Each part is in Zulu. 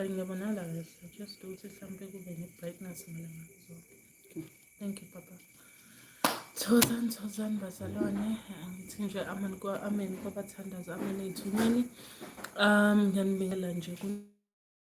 But ngiyabonala kahle just ukuthi mhlawumbe kube ne-brightness mina ngakuzona thank you papa Thokozani thokozani bazalwane angithi nje amen kwa amen kwabathandaza amen ey'thumeni um ngiyanibingelela nje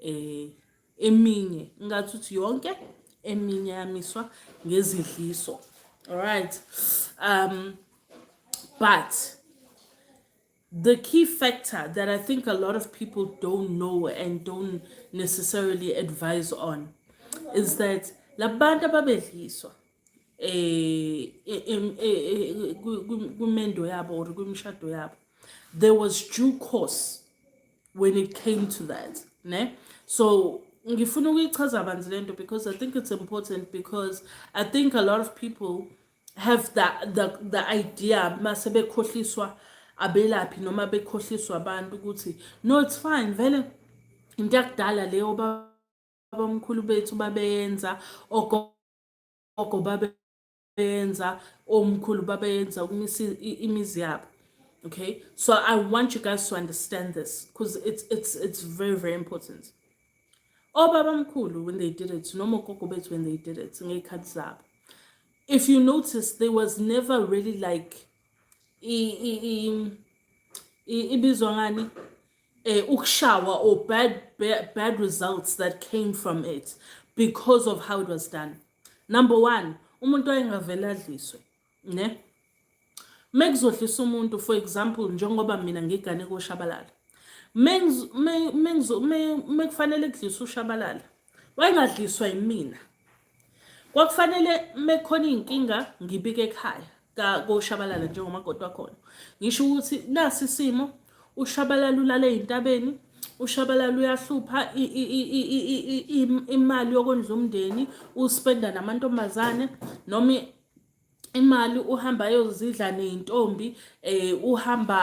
eh eminye ngathi uthi yonke eminye yamiswa ngezidliso alright um but the key factor that i think a lot of people don't know and don't necessarily advise on is that labantu ababedliswa eh kumendo yabo or kwimishado yabo there was due course when it came to that ne so ngifuna ukuyichaza banzi lento because i think it's important because i think a lot of people have the the, the idea mase bekhohliswa abelaphi noma bekhohliswa abantu ukuthi no it's fine vele into yakudala leyo babamkhulu bethu babeyenza ogogo babe babeyenza omkhulu babeyenza ukumisa imizi yabo okay so i want you guys to understand this because it's, it's, it's very very important obaba mkhulu when they did it noma ogogo bethu when they did it ngey'khathi zabo if you notice there was never really like ibizwa ngani eh, ukushawa or bad, bad, bad results that came from it because of how it was done number one umuntu ayengavele adliswe ne mekuzodlisa umuntu for example njengoba mina ngigane koshabalala mekufanele kudlisa ushabalala wayengadliswa yimina kwakufanele mekhona iy'nkinga ngibike ekhaya koshabalala njengomakoti wakhona ngisho ukuthi nasi isimo ushabalala ulale ey'ntabeni ushabalala uyahlupha imali yokondla umndeni uspenda namantombazane noma imali uhamba ayozidla ney'ntombi um uhamba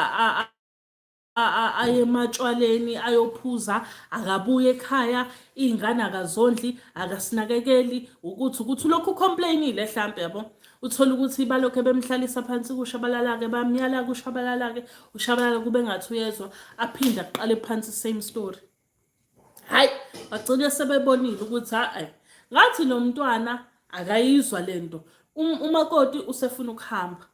aye ematshwaleni ayophuza akabuye ekhaya iy'ngane akazondli akasinakekeli ukuthi ukuthi ulokhu ucomplainile hlampe yabo uthole ukuthi balokhu bemhlalisa phansi kushabalala-ke bamyala kushabalala-ke ushabalala kube ngathi uyezwa aphinde aqale phansi same story hayi bagcine sebebonile ukuthi hayi ngathi lo mntwana akayizwa le nto um, umakoti usefuna ukuhamba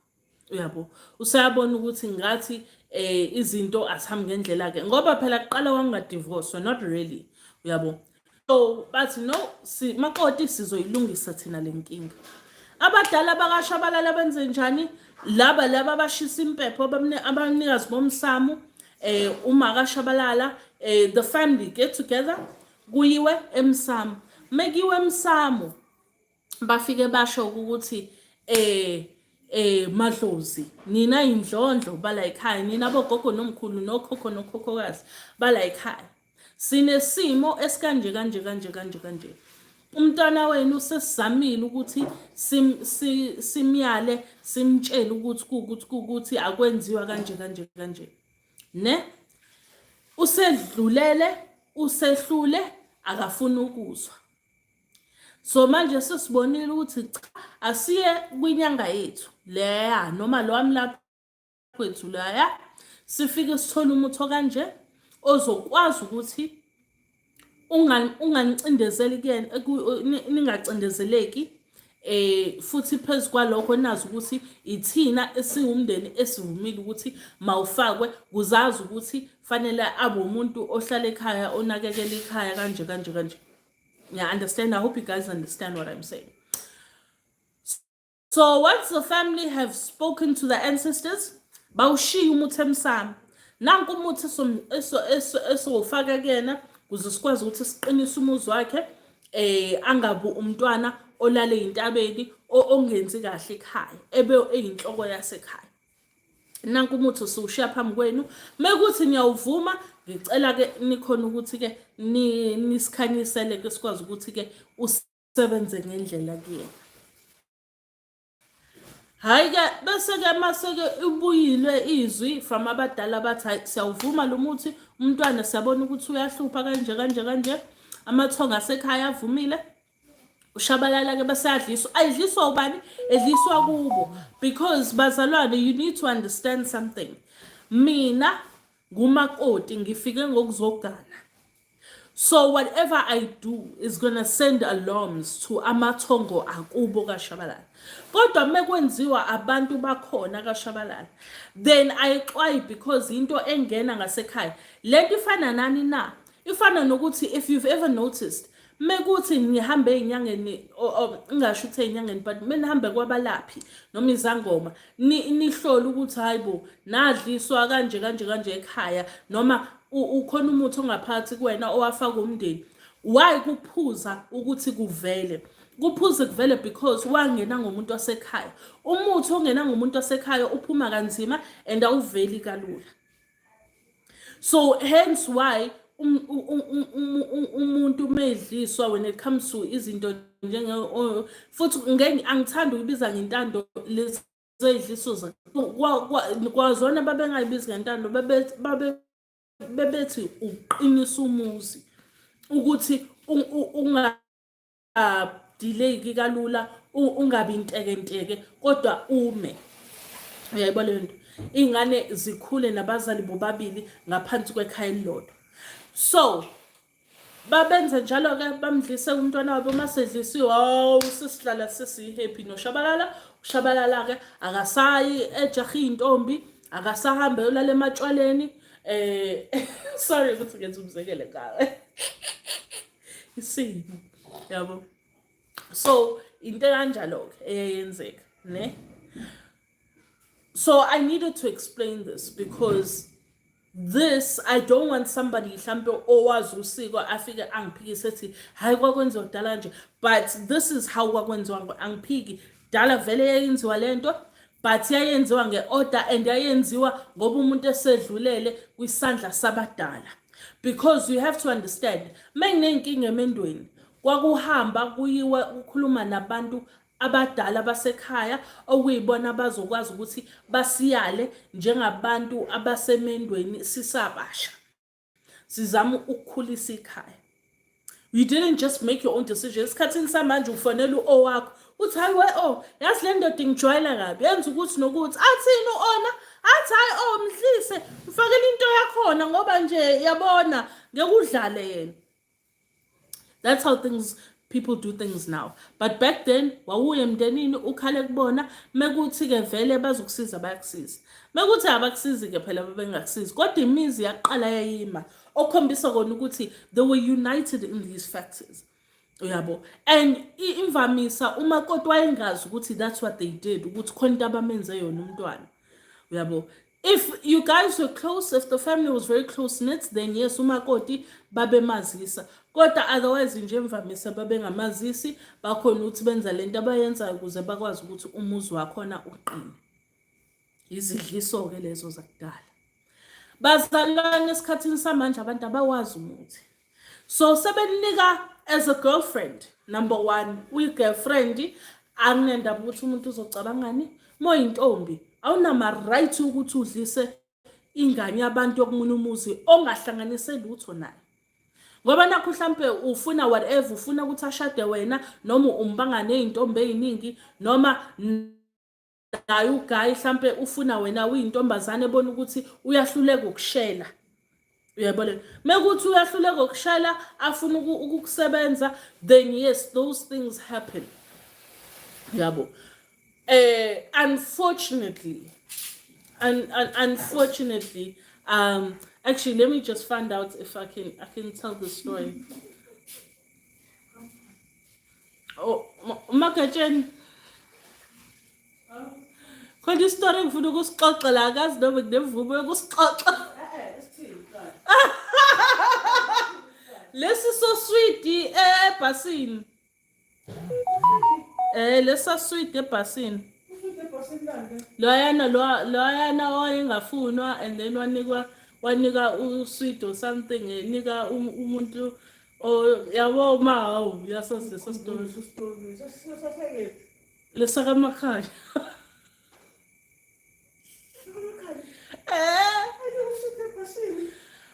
uyabo useyabona ukuthi ngathi eh izinto asihambi ngendlela ke ngoba phela kuqala wangadivorce not really uyabo so bathi no si makoti sizoyilungisa thina lenkinga abadala bakashabalala benze njani laba laba abashisa impepho abanikazi bomsamo eh uma kashabalala eh the family get together kuyiwe emsamo mekiwe emsamo bafike basho ukuthi eh eh madlozi nina indlondlo bala ekhaya nina bogogo nomkhulu nokhokho nokhokhokazi bala ekhaya sinesimo esikanje kanje kanje kanje kanje umntwana wenu sesizamile ukuthi simyale simtshele ukuthi kukuthi kukuthi akwenziwa kanje kanje kanje ne usedlulele usehlule akafuni ukuzwa so manje sesibonile ukuthi cha asiye kwinyanga yethu leya noma lo wami lapho kwethu laya sifike sithole umuthi okanje ozokwazi ukuthi unganicindezeli kuyena ningacindezeleki eh futhi phezu kwalokho nazi ukuthi ithina esiwumndeni esivumile ukuthi mawufakwe kuzazi ukuthi fanele abe umuntu ohlala ekhaya onakekela ikhaya kanje kanje kanje yeah understand i hope you guys understand what i'm saying so once the family have spoken to the ancestors bawushiye umuthi emsamo nanku umuthi esowufaka kuyena kuze sikwazi ukuthi siqinise umuzi wakhe eh angabu umntwana olale intabeni ongenzi kahle ekhaya ebe eyinhloko yasekhaya nanku umuthi usushiya phambi kwenu mekuthi niyawuvuma ngicela ke nikhona ukuthi ke nisikhanyisele ke sikwazi ukuthi ke sebenze ngendlela kuyena hhayi ke bese-ke mase-ke ibuyilwe izwi from abadala bathi hhayi siyawuvuma lo muthi umntwana siyabona ukuthi uyahlupha kanje kanje kanje amathonga asekhaya avumile ushabalala-ke beseyadliswa ayidliswa ubani edliswa kubo because bazalwane you need to understand something mina ngumakoti ngifike ngokuzogana So whatever I do is gonna send alarms to amathongo akubo kaShabalala. Kodwa mekwenziwa abantu bakhona kaShabalala then ayixwayi because into engena ngasekhaya. Lento ifana nani na? Ifana nokuthi if you've ever noticed mekuthi ngihambe ezinyangeni ngingasho ukuthi ezinyangeni but menihambe kwabalaphi noma izangoma nihlole ukuthi hayi bo nadliswa kanje kanje kanje ekhaya noma ukhona umuthi ongaphakathi kuwena owafaka umndeni why kuphuza ukuthi kuvele kuphuze kuvele because wangena ngomuntu wasekhaya umuthi ongena ngomuntu wasekhaya uphuma kanzima and awuveli kalula so hence why um, umuntu umedliswa when it comes to izinto njenge futhi angithanda ukubiza ngentando lezi zeyidlisuza kwazona babengayibizi ngentando bebethi uqinisa umuzi ukuthi unga ungadeleyiki kalula ungabi intekenteke kodwa ume uyayibona leyo nto iy'ngane zikhule nabazali bobabili ngaphansi kwekhaya elilodwa so babenze njalo-ke bamdlise umntwana wabo uma sedlisiwe hawu sesihlala sesiyi-happy noshabalala ushabalala-ke akasayi ejahe iy'ntombi akasahambe yolala ematshwaleni um sorry ukuthi ngenza umzekele ngawe isimo yabo so into kanjalo ke eyayenzeka ne so i needed to explain this because this i don't want somebody mhlampe owazi usiko afike angiphikise ethi hayi kwakwenziwa kudala nje but this is how kwakwenziwa angiphiki dala vele yayenziwa lento but yayenziwa nge-order and yayenziwa ngoba umuntu esedlulele kwisandla sabadala because you have to understand uma nginey'nkinga emendweni kwakuhamba kuyiwa kukhuluma nabantu abadala basekhaya okuyibona abazokwazi ukuthi basiyale njengabantu abasemendweni sisabasha sizama ukukhulisa ikhaya you didn't just make your own decision esikhathini samanje ufanele uowakho uthi hayi we o oh, yazi le ndoda ingijwayela kabi yenza ukuthi nokuthi athini u-ona athi hayi o oh, mhlise mfakele into yakhona ngoba nje yabona ngekudlale yena that's how things people do things now but back then wawuye emndenini ukhale kubona mekuthi-ke vele bazokusiza bayakusiza mekuthi abakusizi-ke phela babengakusizi kodwa imizi yaqala yayima okhombisa kona ukuthi they were united in these factors uyabo and imvamisa uma kodwa wayengazi ukuthi that's what they did ukuthi khona into abamenze yona umntwana uyabo if you guys were close if the family was very close knit then yes umakoti babemazisa kodwa otherwise nje imvamisa babengamazisi bakhona ukuthi benza le nto abayenzayo ukuze bakwazi ukuthi umuzi wakhona uqine izidliso-ke lezo zakudala bazalwane esikhathini samanje abantu abawazi umuthi so sebeninika as a girlfriend number one uyi-girlfriend anginendaba ukuthi umuntu uzocabangani moyintombi awunama-right ukuthi udlise ingane yabantu yokumunye umuzi ongahlanganise lutho naye ngoba nakho mhlampe ufuna whatever ufuna ukuthi ashade wena noma umbangane izintombi eziningi noma naye ugayi mhlampe ufuna wena uyintombazane ebona ukuthi uyahluleka ukushela uyabona mekuthi uyahluleka ukushela afuna ukukusebenza then yes those things happen yabo eh unfortunately un, un, unfortunately um actually let me just find out if i can i can tell the story Oh, umagatsheni khona isitori engifuna ukusixoxela akazi noma nginemvumo yokusixoxa lesi so sweet ebhasini eh lesa sweet ebhasini loyana loyana oyengafunwa and then wanikwa wanika usweet or something enika um, umuntu Oh, yabo uma hawu yasazi leso sitori lesakamakhaya Eh,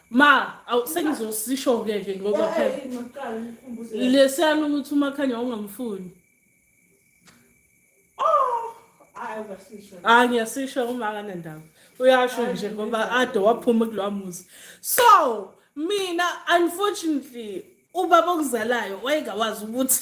ma awu sengizosisho-ke ke ngoba phela lesiyalo ukuthi umakhanya ungamfuni hayi ngiyasisho uma akanendaba uyasho nje ngoba ade waphuma kulowa muzi so mina unfortunately ubaba okuzalayo wayengawazi ukuthi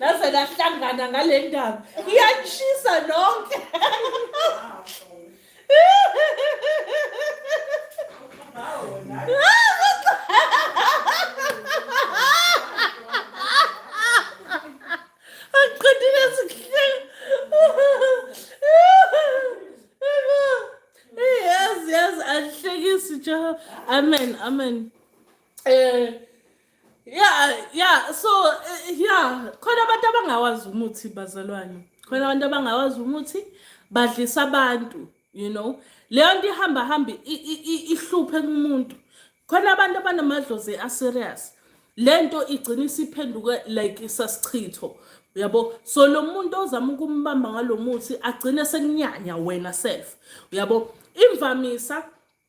laze lahlangana ngale ndaba iyanishisa nonke angiqedile sihlelo yazi yazi angihlekisi jehova amen amen um Yeah, yeah, so eh, yeah, khona abantu abangawazi umuthi bazalwane. Khona abantu abangawazi umuthi badlisa abantu, you know. Leyo nto ihamba hamba ihluphe kumuntu. Khona abantu abanamadlozi a serious. Lento igcina isiphenduke like isasichitho. uyabo so lo muntu ozama ukumbamba ngalo muthi agcine sekunyanya wena self uyabo imvamisa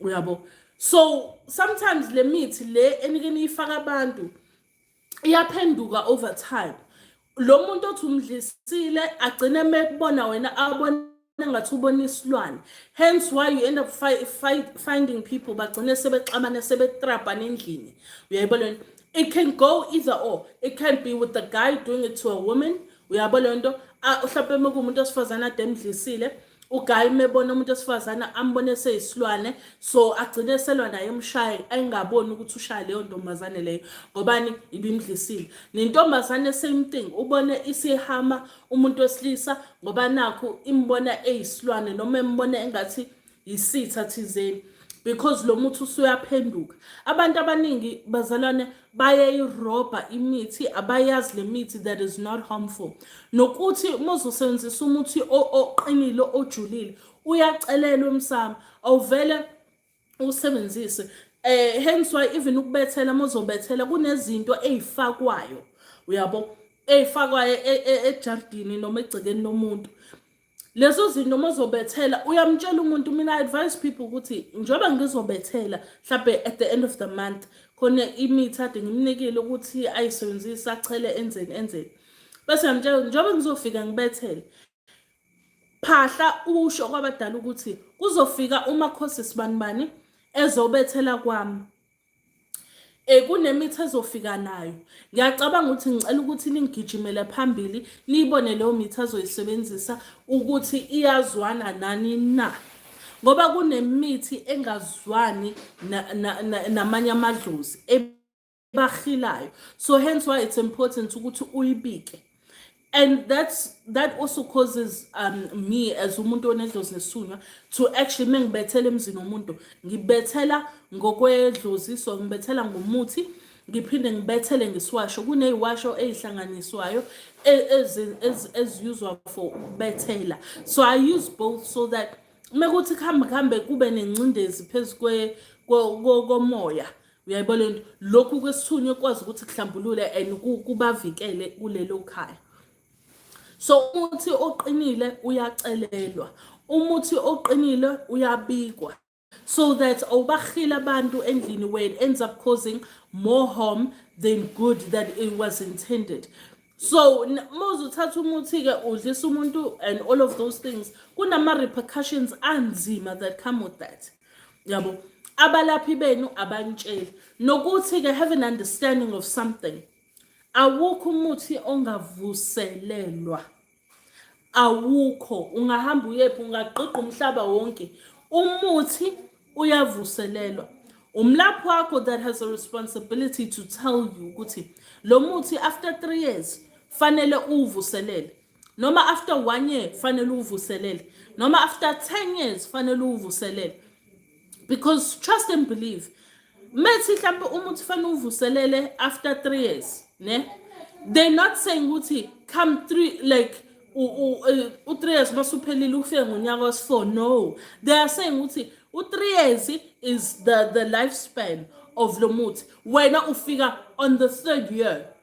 uyabo so sometimes le mithi le enike niyifaka abantu iyaphenduka over time lo muntu othi umdlisile agcine mekubona wena abone engathi ubona isilwane hence why you end up fi fi finding people bagcine sebexabane sebetrabhana endlini uyayibona it can go either or it can be with the guy doing it to a woman uyabo le nto mhlawumpe uma kuwumuntu osifazane ade emdlisile ugayi mebona umuntu osifazane ambone seyisilwane so agcine eselwa naye emshaye ayingaboni ukuthi ushaya leyo ntombazane leyo ngobani ibimdlisile nentombazane same thing ubone isihama umuntu wesilisa ngoba nakho imbona eyisilwane noma embona engathi yisitha thizeni because lo muthi usuyaphenduka abantu abaningi bazalwane bayayirobha imithi abayazi le mithi that is not harmful nokuthi muzosebenzisa umuthi oqinile ojulile uyacelelwa emsamo awuvele usebenzise eh hence why even ukubethela muzobethela kunezinto ezifakwayo uyabo eyifakwayo e, e, ejardini noma egcekeni lomuntu lezo zinto uma uzobethela uyamtshela umuntu mina i advise people ukuthi njengoba ngizobethela mhlawumbe at the end of the month khona imithi ade ngimnikile ukuthi ayisebenzise achele enzeni enzeni bese ngiyamtshela njengoba ngizofika ngibethele phahla usho kwabadala ukuthi kuzofika umakhosi sibanibani ezobethela kwami Eh kunemithi ezofika nayo. Ngiyacabanga ukuthi ngicela ukuthi ningigijimele phambili niyibone leyo mithi azoyisebenzisa ukuthi iyazwana nani na. Ngoba kunemithi engazwani namanye amadlozi ebahilayo. So hence why it's important ukuthi uyibike. and that's that also causes um, me as umuntu onedlozi nesunywa to actually uma ngibethela emzini womuntu ngibethela ngokwedlozi so ngibethela ngomuthi ngiphinde ngibethele ngesiwasho kuneyiwasho eyihlanganiswayo eziyuzwa e, for ukubethela so i use both so that uma kuthi kuhambe kuhambe kube nengcindezi phezu komoya uyayibona le nto lokhu kwesithunywa kwazi ukuthi kuhlambulule and kubavikele kulelo khaya so umuthi oqinile uyacelelwa umuthi oqinile uyabikwa so that awubahile abantu endlini wena ends up causing more harm than good that it was intended so mose uthatha umuthi-ke udlisa umuntu and all of those things kunama-repercussions anzima that come with that yabo abalaphi benu abanitsheli nokuthi-ke have an understanding of something awukho umuthi ongavuselelwa awukho ungahamba uyephi ungagqigqa umhlaba wonke umuthi uyavuselelwa umlaphi wakho that has a responsibility to tell you ukuthi lo muthi after three years fanele uwuvuselele noma after one year fanele uvuselele noma after 10 years fanele uvuselele because trust and believe methi mhlawumbe umuntu fanele uvuselele after 3 years ne they not saying ukuthi come 3 like u-3 years masuphelile ufike ngonyaka wesi-4 no they are saying ukuthi u-3 years is the, the lifespan of lo muthi wena ufika on the third year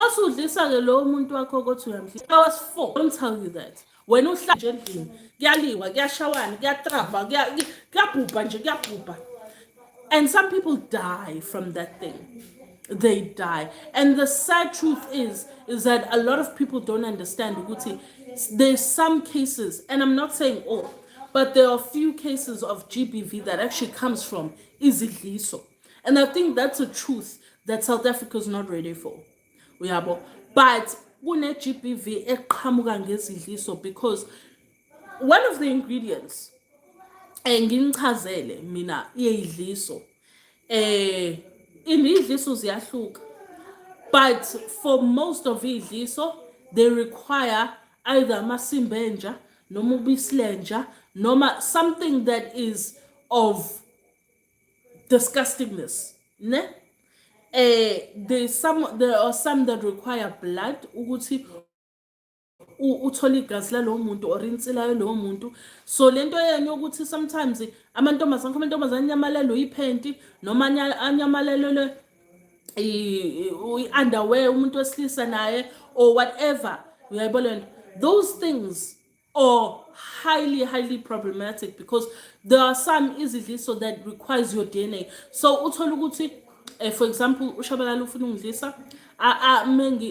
Osudlisa-ke lowo muntu wakho ukuthi uyamhlisa. I was four. Don't tell you that. Wena uhlala nje endlini. Kuyaliwa, kuyashawana, kuyatrabha, kuyabhubha nje, kuyabhubha. And some people die from that thing. They die. And the sad truth is, is that a lot of people don't understand ukuthi there's some cases, and I'm not saying all, but there are few cases of GBV that actually comes from izidliso. and i think that's a truth that south africa is not ready for uyabo but kune-gbv eqhamuka ngezidliso because one of the ingredients eh nginichazele mina iyidliso eh indidliso ziyahluka but for most of idliso they require either amasimba enja noma ubisi lenja noma something that is of disgustingness ne eh there some there are some that require blood ukuthi uthola igazi lalowo muntu or insila yalowo muntu so lento yenu yokuthi sometimes amantombazane khona amantombazane anyamalelwe yiphenti noma anyamalelwe i-underwear umuntu wesilisa naye or whatever uyayibona lento those things or highly highly problematic because there are some izidliso that requires your DNA so uthola ukuthi eh, for example ushabalala ufuna ungidlisa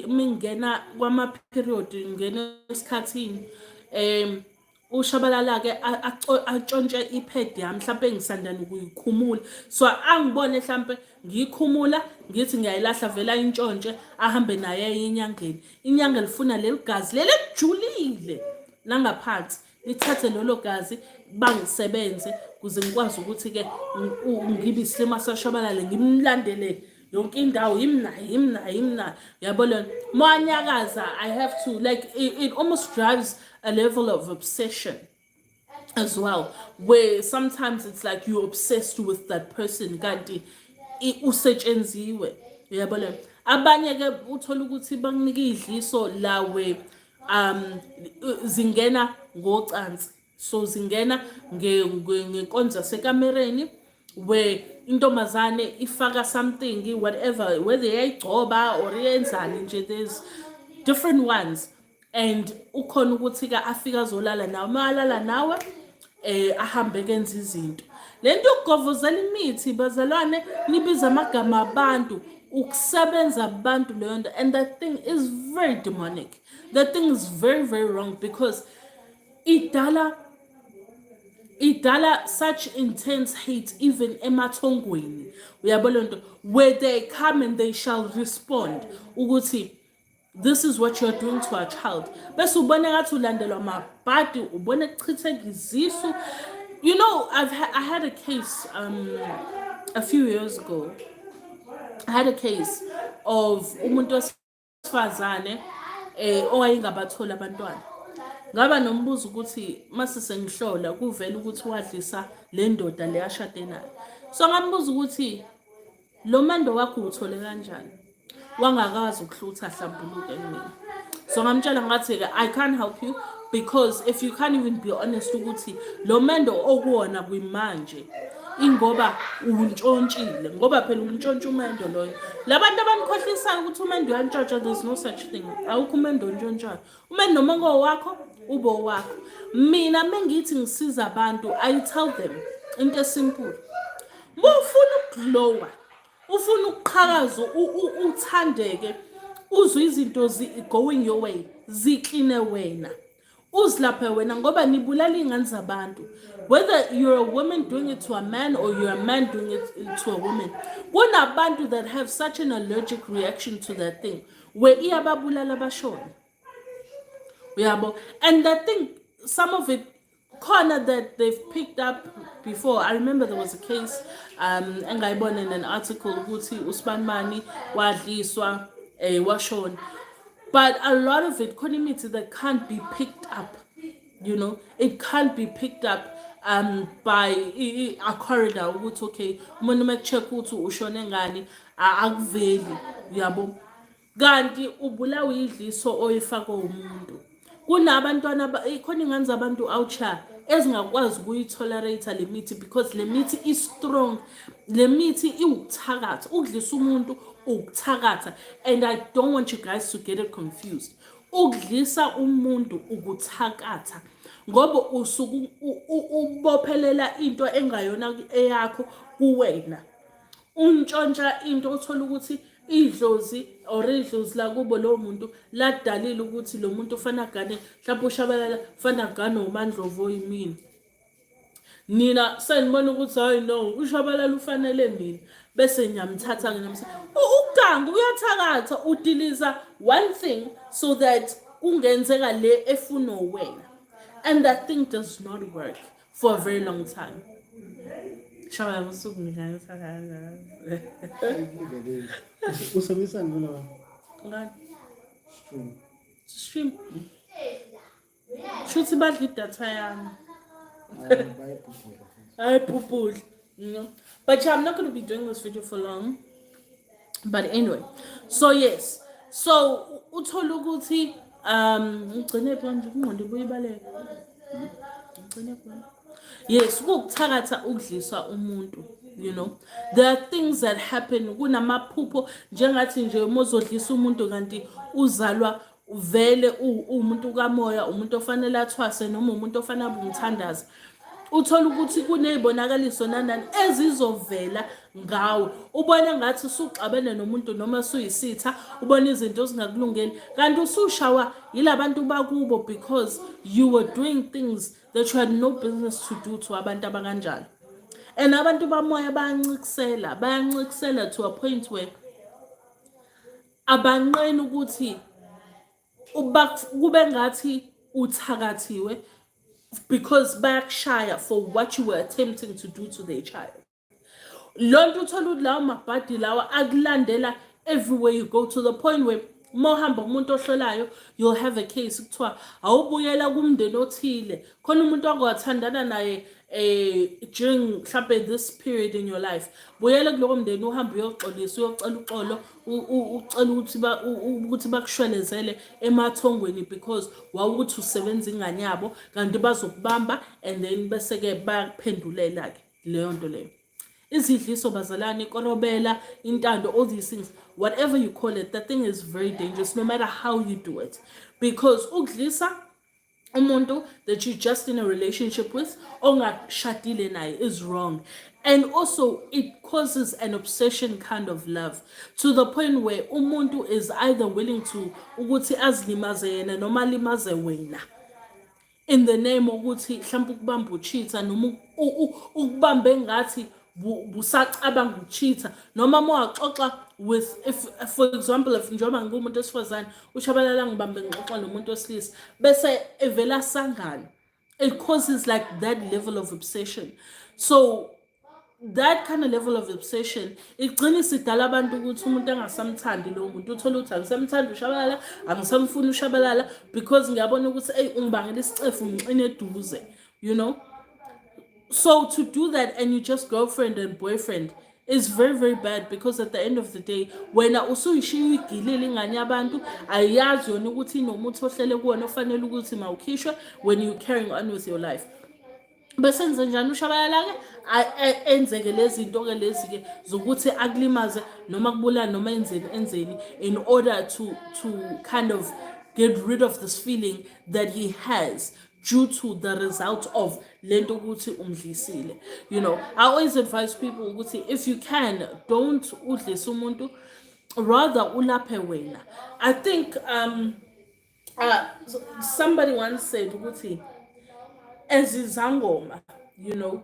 mengingena kwama-period ngingena esikhathini um ushabalala-ke atshontshe iphedi yami mhlawumpe ngisandana ukuyikhumula so angibone mhlawumpe ngiyikhumula ngithi ngiyayilahla vele ayintshontshe ahambe nayo aye enyangeni inyanga lifuna leli gazi leli elijulile langaphansi lithathe lolo gazi bangisebenze kuze ngikwazi ukuthi-ke ngibe isilima sashabalale ngimlandele yonke indawo yimna yimna yimna yabo lona manyakaza i have to like it, it almost drives a level of obsession as well where sometimes it's like you're obsessed with that person kanti usetshenziwe uyabona abanye ke uthola ukuthi bakunika idliso lawe um zingena ngocansi so zingena ngenkonzo sekamereni where intombazane ifaka something whatever whether yayigcoba or yenzani nje there's different ones and ukhona ukuthi ke afike azolala nawe uma alala nawe eh ahambe kenza izinto lento yokugovozela imithi bazalwane nibiza amagama abantu ukusebenza abantu leyo nto and that thing is very demonic that thing is very very wrong because idala idala such intense hate even emathongweni uyabo lento where they come and they shall respond ukuthi this is what you're doing to our child bese ubona ngathi ulandelwa mabhadi ubona kuchitheka izisu you know I've ha i had a case um, a few years ago i had a case of umuntu wesifazane eh owayengabatholi abantwana ngaba nombuzo ukuthi mase sengihlola kuvela ukuthi wadlisa le ndoda le ashade nayo so ngambuza ukuthi lo mando wakho uthole kanjani wangakazi ukuhlutha ahlambuluke mina so ngamtshela ngathi-ke i can't help you because if you can't even be honest ukuthi lo mendo okuwona kwimanje ingoba untshontshile ngoba phela untshontshe umendo loyo labantu abanikhohlisayo ukuthi umendo uyantshontsha there's no such thing awukho umendo ontshontshwayo uma noma kowakho ube owakho mina mengithi ngisiza abantu i tell them into esimpulu uma ufuna ukuglowa ufuna ukuqhakaza uthandeke uzwe izinto going your way zikline wena uzilaphe wena ngoba nibulala iy'ngane zabantu whether you're a woman doing it to a man or you're a man doing it to a woman kunabantu that have such an allergic reaction to that thing we iyababulala abashona uyabo and the thing some of it corner that they've picked up before i remember there was a case um engayibona in an article ukuthi usibanimani wadliswa eh washona but a lot of it khona imithi that can't be picked up you know it can't be picked up um by a corridor ukuthi okay umuntu uma check ukuthi ushone ngani akuveli uyabo kanti ubulawa idliso oyifaka umuntu kunabantwana khona ingane zabantu outsha ezingakwazi ukuyitolerate le mithi because le mithi i-strong le mithi iwukuthakatha ukudlisa umuntu ukuthakatha and i don't want you guys to get it confused Ukudlisa umuntu ukuthakatha ngoba usuku ubophelela into engayona eyakho kuwena untshontsha into othola ukuthi idlozi or idlozi lakubo lowo muntu ladalile ukuthi lo muntu ufana gane mhlawumbe ushabalala ufana gane womandlovu oyimina nina senibona ukuthi hayi no ushabalala ufanele mina bese ngiyamthatha nginamsa ugangu uyathakatha udiliza one thing so that kungenzeka le efuna wena and that thing does not work for a very long time shaba usuku ngikanisa kanjalo usebenzisa ngolo ngani stream stream shuthi badla idatha yami ayibhubhudla no but yeah, i'm not going to be doing this video for long but anyway so yes so uthole ukuthi um ugcine phi manje kungqondo kuyibaleka ugcine phi yes ukukuthakatha ukudliswa umuntu you know there are things that happen kunamaphupho njengathi nje uma uzodlisa umuntu kanti uzalwa uvele uwumuntu kamoya umuntu ofanele athwase noma umuntu ofanele abe umthandazi uthola ukuthi kunezibonakaliso nanani ezizovela ngawe ubona ngathi usuxabene nomuntu noma suyisitha ubona izinto ezingakulungeli kanti usushawa yilabantu bakubo because you were doing things that you had no business to do to abantu abakanjalo and abantu bamoya bayancikisela bayancikisela to a point where abanqeni ukuthi kube ngathi uthakathiwe because bayakushaya for what you were attempting to do to their child loo nto uthole ukuthi lawo mabhadi lawa akulandela everywhere you go to the point where uma uhamba umuntu ohlolayo you'll have a case kuthiwa awubuyela kumndeni othile khona umuntu ongawathandana naye eh during mhlampe this period in your life buyele kuloko mndeni uhambe uyoxolisa uyocela uxolo ucela ukuthi ba ukuthi bakushwelezele emathongweni because wawukuthi usebenza ingane yabo kanti bazokubamba and then bese ke bayakuphendulela ke leyo nto leyo izidliso bazalwane ikorobela intando all these things whatever you call it that thing is very dangerous no matter how you do it because ukudlisa umuntu that you just in a relationship with ongashadile naye is wrong and also it causes an obsession kind of love to the point where umuntu is either willing to ukuthi azilimaze yena noma alimaze wena in the name ukuthi mhlawumbe ukubamba uchitha noma ukubambe ngathi busacabanga ukucheatha noma uma waxoxa with if for example if njengoba ngiwumuntu wesifazane ushabalala ngibambe ngixoxa nomuntu wesilisa bese evela sangalo it causes like that level of obsession so that kind of level of obsession igcina isidala abantu ukuthi umuntu angasamthandi lowo muntu uthole ukuthi angisamthandi ushabalala angisamfuni ushabalala because ngiyabona ukuthi eyi ungibangela isicefu ngixine eduze you know so to do that and you just girlfriend and boyfriend is very very bad because at the end of the day wena usuyishiya uyigilile ingane yabantu ayiyazi yona ukuthi inomuthi ohlele kuwona ofanele ukuthi mawukhishwe when you carrying on with your life bese ngize njani ushabalala-ke enzeke lezi zinto-ke lezi-ke zokuthi akulimaze noma kubulala noma enzeni enzeni in order to, to kind of get rid of this feeling that he has due to the result of lento ukuthi umdlisile you know i always advise people ukuthi if you can don't udlise umuntu rather ulaphe wena i think um uh, somebody once said ukuthi ezizangoma you know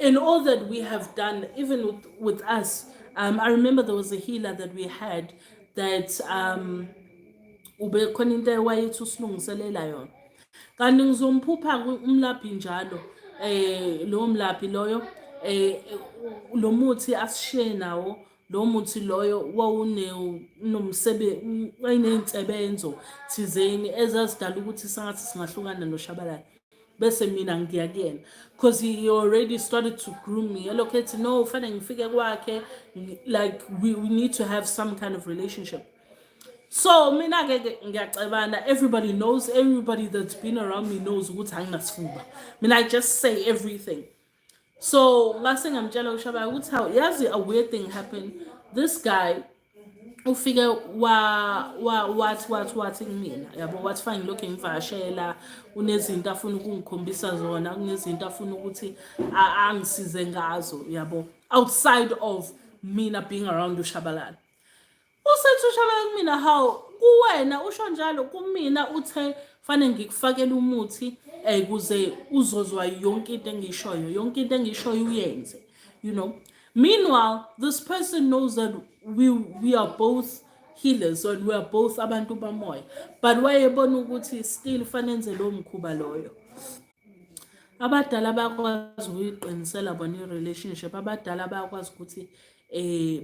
and all that we have done, even with, with us, um, I remember there was a healer that we had that um, ubekhona into ewayethi usilungiselela yona kanti ngizomphupha umlaphi njalo eh lowo mlaphi loyo eh lo muthi asishiye nawo lo muthi loyo wawunomsebe wayiney'nsebenzo thizeni ezazidala ukuthi sangathi singahlukana noshabalala bese mina ngiya kuyena because he already started to groom me elokhu ethi no ufanele ngifike kwakhe like we, we need to have some kind of relationship so mina ke ngiyacebana everybody knows everybody that's been around me knows ukuthi anginasifuba mina i just say everything so ngase ngamtshela ushabayo ukuthi hawu yazi a weird thing happened this guy ufike wa wa wathi wathi wathi kumina yabo wathi fine ngilokhu ngivashela unezinto afuna ukungikhombisa zona kunezinto afuna ukuthi angisize ngazo yabo outside of mina being around ushabalala Usethi ushabalala kumina hawu kuwena usho njalo kumina uthe fanele ngikufakele umuthi um kuze uzozwa yonke into engishoyo yonke into engishoyo uyenze you know meanwhile this person knows that we, we are both healers and we are both abantu bamoya but wayebona ukuthi still fanenze lowo mkhuba loyo abadala bayakwazi ukuyiqinisela bona i-relationship abadala bayakwazi ukuthi eh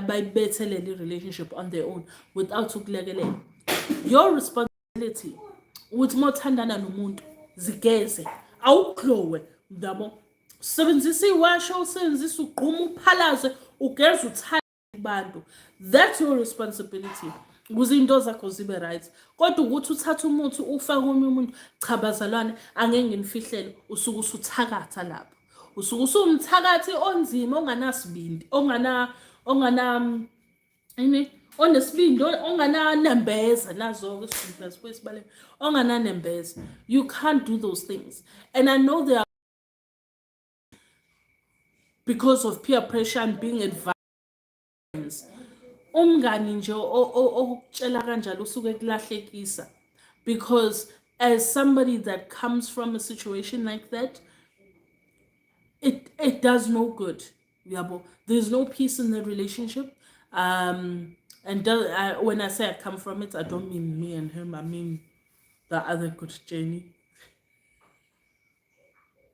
bayibethelele i-relationship on their own without ukulekelela your responsibility ukuthi uma uthandana nomuntu zigeze awuglowe ndabo sebenzisa iwasho usebenzisa ugquma uphalaze ugeze uthanda kubantu that's your responsibility ukuze into zakho zibe right kodwa ukuthi uthathe umuthi ufake omunye umuntu cha bazalwane angeke nginifihlele usuke usuthakatha lapho usuke usumthakathi onzima onganasibindi ongana ongana ini onesibindi ongananembeza nazo-ke sibindibeza kwesibaleka ongananembeza you can't do those things and i know there because of peer pressure and being advised umngani nje okutshela kanjalo usuke kulahlekisa because as somebody that comes from a situation like that it it does no good yabo there's no peace in the relationship um and do, uh, when i say i come from it i don't mean me and him i mean the other good journey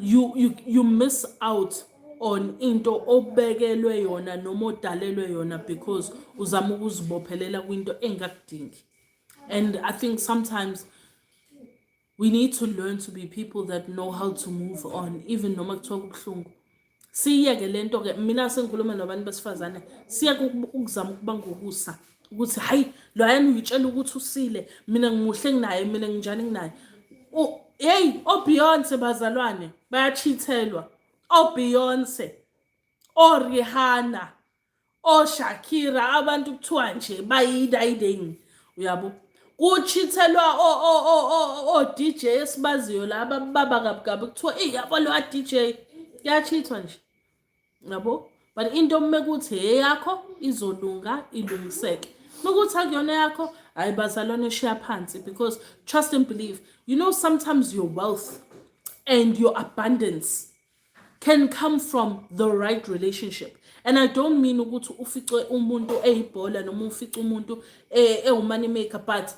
you, you, you miss out on into obekelwe yona noma odalelwe yona because uzama ukuzibophelela kwinto engakudingi and i think sometimes we need to learn to be people that know how to move on even noma kuthiwa kubuhlungu siyeke le nto ke mina sengikhuluma nabantu besifazane siyeke ukuzama ukuba ngokusa ukuthi hayi loyana uyitshela ukuthi usile mina ngimuhle nginaye mina nginjani nginaye heyi obeyonce bazalwane bayachithelwa obeyonce orihanna oShakira oh, abantu kuthiwa nje bayidayiding uyabo kuchithelwa o o o o o DJ esibaziyo laba baba kabukabi kuthiwa ey yabo lo DJ kuyachithwa nje yabo but into uma kuthi eyakho izolunga ilungiseke ukuthi akuyona yakho hayi bazalwane eshiya phansi because trust and believe you know sometimes your wealth and your abundance can come from the right relationship and i don't mean ukuthi ufice umuntu eyibhola noma ufice umuntu eh, ewumoney maker but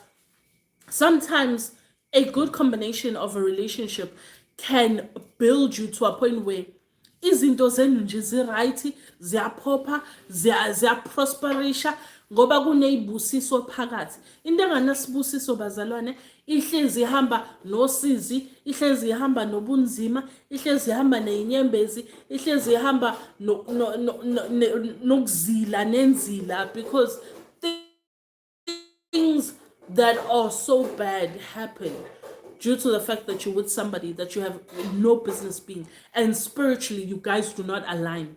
sometimes a good combination of a relationship can build you to a point where izinto zenu nje ziright ziyaphopha ziyaprosperisha ngoba kuneyibusiso phakathi into enganasibusiso bazalwane ihlezi ihamba nosizi ihlezi ihamba nobunzima ihlezi ihamba neyinyembezi ihlezi ihamba nokuzila nenzila because things that are so bad happen due to the fact that you're with somebody that you have no business being and spiritually you guys do not align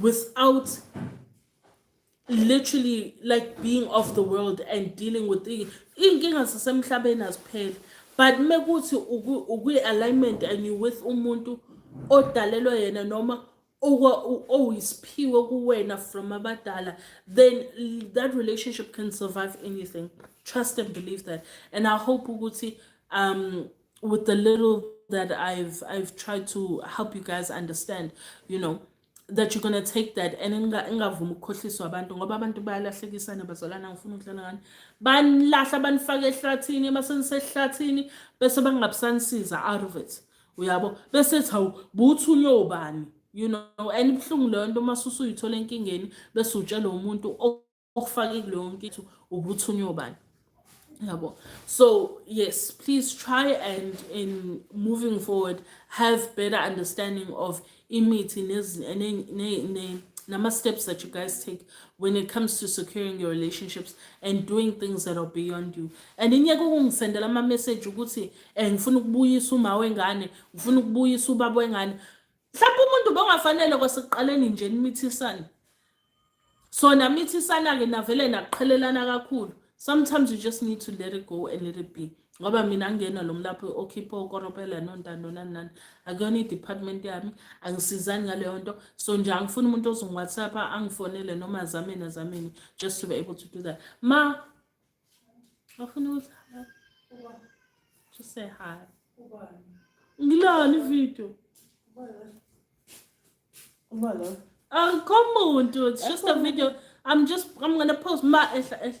without literally like being off the world and dealing with iy'nkinga zasemhlabeni azipheli but mekuthi ukwi-alignment and you with umuntu odalelwe yena noma owuyisiphiwe kuwena from abadala then that relationship can survive anything trust and believe that and i hope ukuthi um with the little that I've I've tried to help you guys understand, you know, that you're gonna take that and ingavumi ukukhohliswa abantu ngoba abantu bayalahlekisana bazalana ngifuna ukudlala ngani banilahla banifake ehlathini uma senisehlathini bese bangabisanisiza out of it uyabo bese ethi hawu buthunywe ubani you know and ibuhlungu leyo nto uma susuyithola enkingeni bese utshelwe umuntu okufake kuleyo nkitho ubuthunywa ubani yabo so yes please try and in moving forward have better understanding of imithi nama-steps that you guys take when it comes to securing your relationships and doing things that are beyond you and inyeke ukungisendela ama-message ukuthi um ngifuna ukubuyisa uma wengane ngifuna ukubuyisa ubaba wengane mhlawumbe umuntu bongafanele kwasekuqaleni nje nimithisane so namithisana-ke navele naqhelelana kakhulu sometimes you just need to let it go and let it be ngoba mina angiyena lo mlaphi okhipha okoropela nontando nani nani akuyona i-department yami angisizani ngaleyo nto so nje angifuni umuntu ozongiwhatsapp angifonele noma azameni azameni just to be able to do that ma Afuna ukuthi to say hi. Ngilona ivideo. Ubala. Akukho muntu, it's just a video. I'm just I'm going to post my ehla ehla.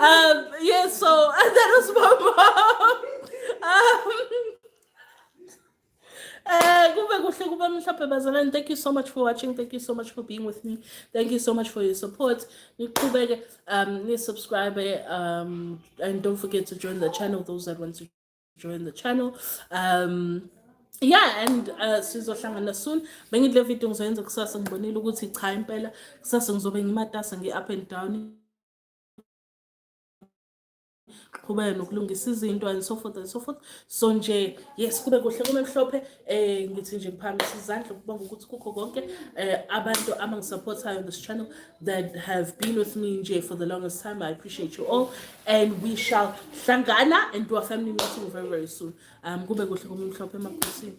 Um, yeah, so and that was my mom. Um, uh, thank you so much for watching thank you so much for being with me thank you so much for your support niqhubeke um ni subscribe um and don't forget to join the channel those that want to join the channel um yeah and uh, sizohlangana soon bengidle video ngizoyenza kusasa ngibonile ukuthi cha impela kusasa ngizobe ngimatasa ngi-up and down qhubeke nokulungisa izinto and so forth and so forth so nje yes kube kuhle kube mhlophe eh ngithi nje ngiphakamisa izandla ukubonga ukuthi kukho konke eh abantu abangisupportayo on this channel that have been with me nje for the longest time i appreciate you all and we shall hlangana and do a family meeting very very soon um kube kuhle kube mhlophe emakhosini